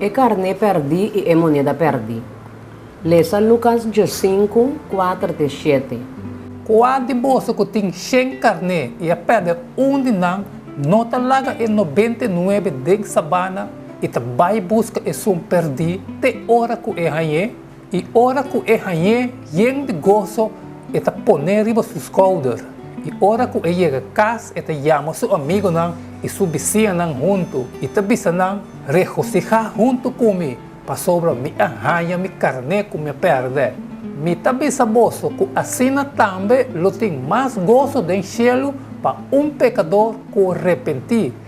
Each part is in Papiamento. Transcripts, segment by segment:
E karné pèrdí i e moneda pèrdí. Lesa Lukas djosinku, kuater te shete. Kua di boso ku tin shen karné i a pèrdè un di nan no ta laga e nobenta i nuebe den sabana i ta bai buska esun pèrdí te ora ku e hañ'é? I ora ku e hañ'é yen di goso, e ta pon'é riba su skouder, i ora ku e yega kas e ta yama su amigunan i su bisiñanan huntu, i ta bisa nan, Regosihá huntu ku mi, pasobra mi a haña mi karné ku mi a pèrdè. Mi ta bisa boso ku asina tambe lo tin mas goso den shelu pa un pekador ku repentí,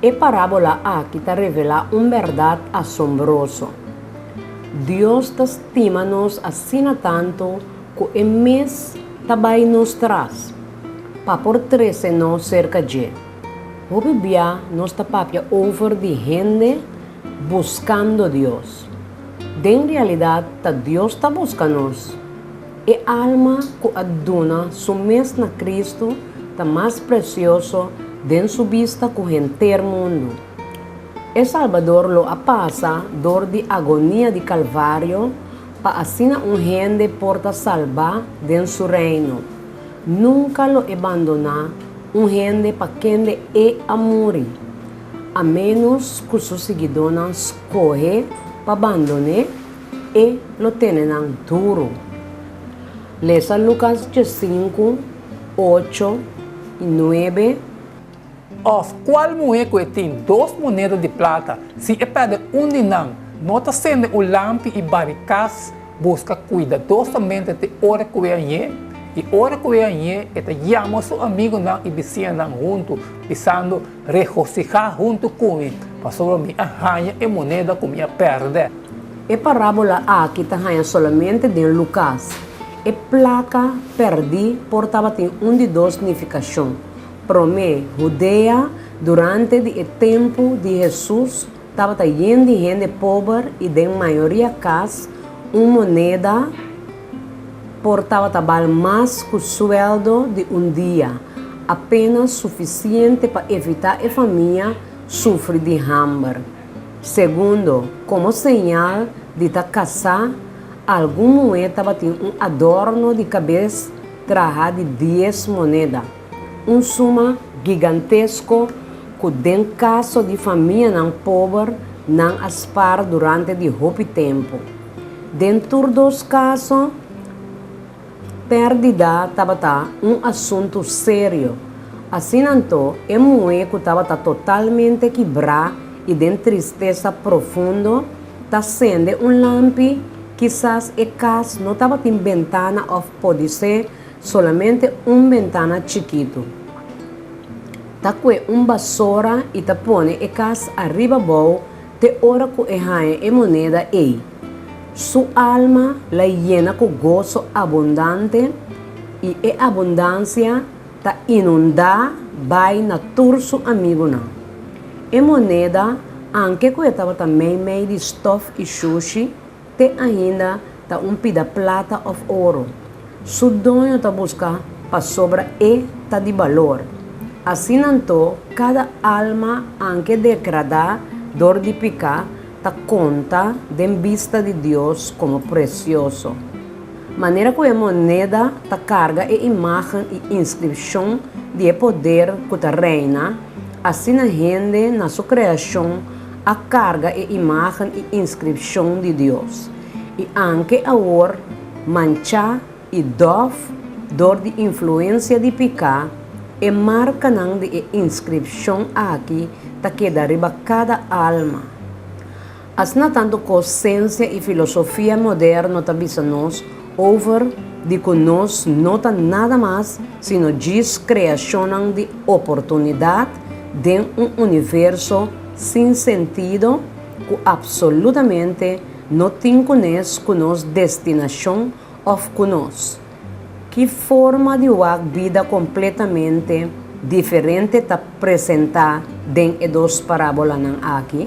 E parábola aki ta revelá un bèrdat asombroso. Dios ta stima nos asina tantu ku e mes ta bai nos tras pa por trese nos serka dje. Hopi bia nos ta papia over di hende buskando Dios. Den realidat ta Dios ta buska nos? E alma ku a duna su mes na Kristu ta mas presioso den su bista ku henter mundu. E Salbador lo a pasa dor di agonia di Kalvario pa asina un hende por ta salbá den su Reino. Nunka lo e bandoná un hende pa kende e a muri, a ménos ku su siguidónan skohe pa bandoné. E lo tene nan duru. Lesa Lucas dje sinku, ocho i nuebe. Òf kual muhé ku e tin dos moneda di plata, si e pèrdè un di nan, no ta sende un lampi i bari kas, buska kuidadosamente te ora ku e a ñe? I ora ku e a ñe, e ta yama su amigunan i bisinanan huntu, pisando, Regosihá huntu ku mi, pasobra mi a haña e moneda ku mi a pèrdè. E parábola aki ta haña solamente den Lukas. E plaka pèrdí por tabatin un di dos nifikashon. Promé, Hudea durante di e tempu di Hesus. Tabata yen di hende pober y den mayoria cas un moneda por tabata bal mas cu sueldo di un dia, apenas suficiente pa evita e famia sufri di hamber. Segundo, como señal di ta casa, algun muhe tabatin un adorno di cabes traha di dies moneda. Un suma gigantesko ku den kaso di famianan pober nan a spar durante di hopi tempu. Den tur dos kaso, pèrdida tabata un asuntu serio. Asina anto, e muhé ku tabata totalmente kibrá i den tristesa profundo ta sende un lampi, kisas e kas no tabatin bentana òf podisé Solamente un bentana chikitu. Ta kue un basora y ta pone e cas ariba bou te ora cu e haña e moneda ey. Su alma la yena cu gozo abundante y e abundancia ta inunda bay na tur su amigunan. E moneda, anke cu e tabata mey mey di stof y shushi, Te ainda ta un pida plata of oro. Su doño ta busca pasobra e ta di balor. Asina anto cada alma anke decrada dor di pica ta conta den bista di Dios como precioso. Manera cu e moneda ta carga e imagen y inscripcion di e poder cu ta reina, asina hende na su creacion a carga e imagen y inscripcion di Dios, y anke awor mancha y dof door di influencia di pica, e marcanan di e inscripcion aki ta keda riba cada alma. Asina tanto cosencia y filosofia moderno ta bisa nos Over di ku nos no ta nada mas sino djis kreashonnan di oportunidat den un universo sin sentido ku apsolutamente no tin kunes ku nos destinashon òf ku nos ki forma di wak bida kompletamente diferente ta presentá den e dos parábolanan aki?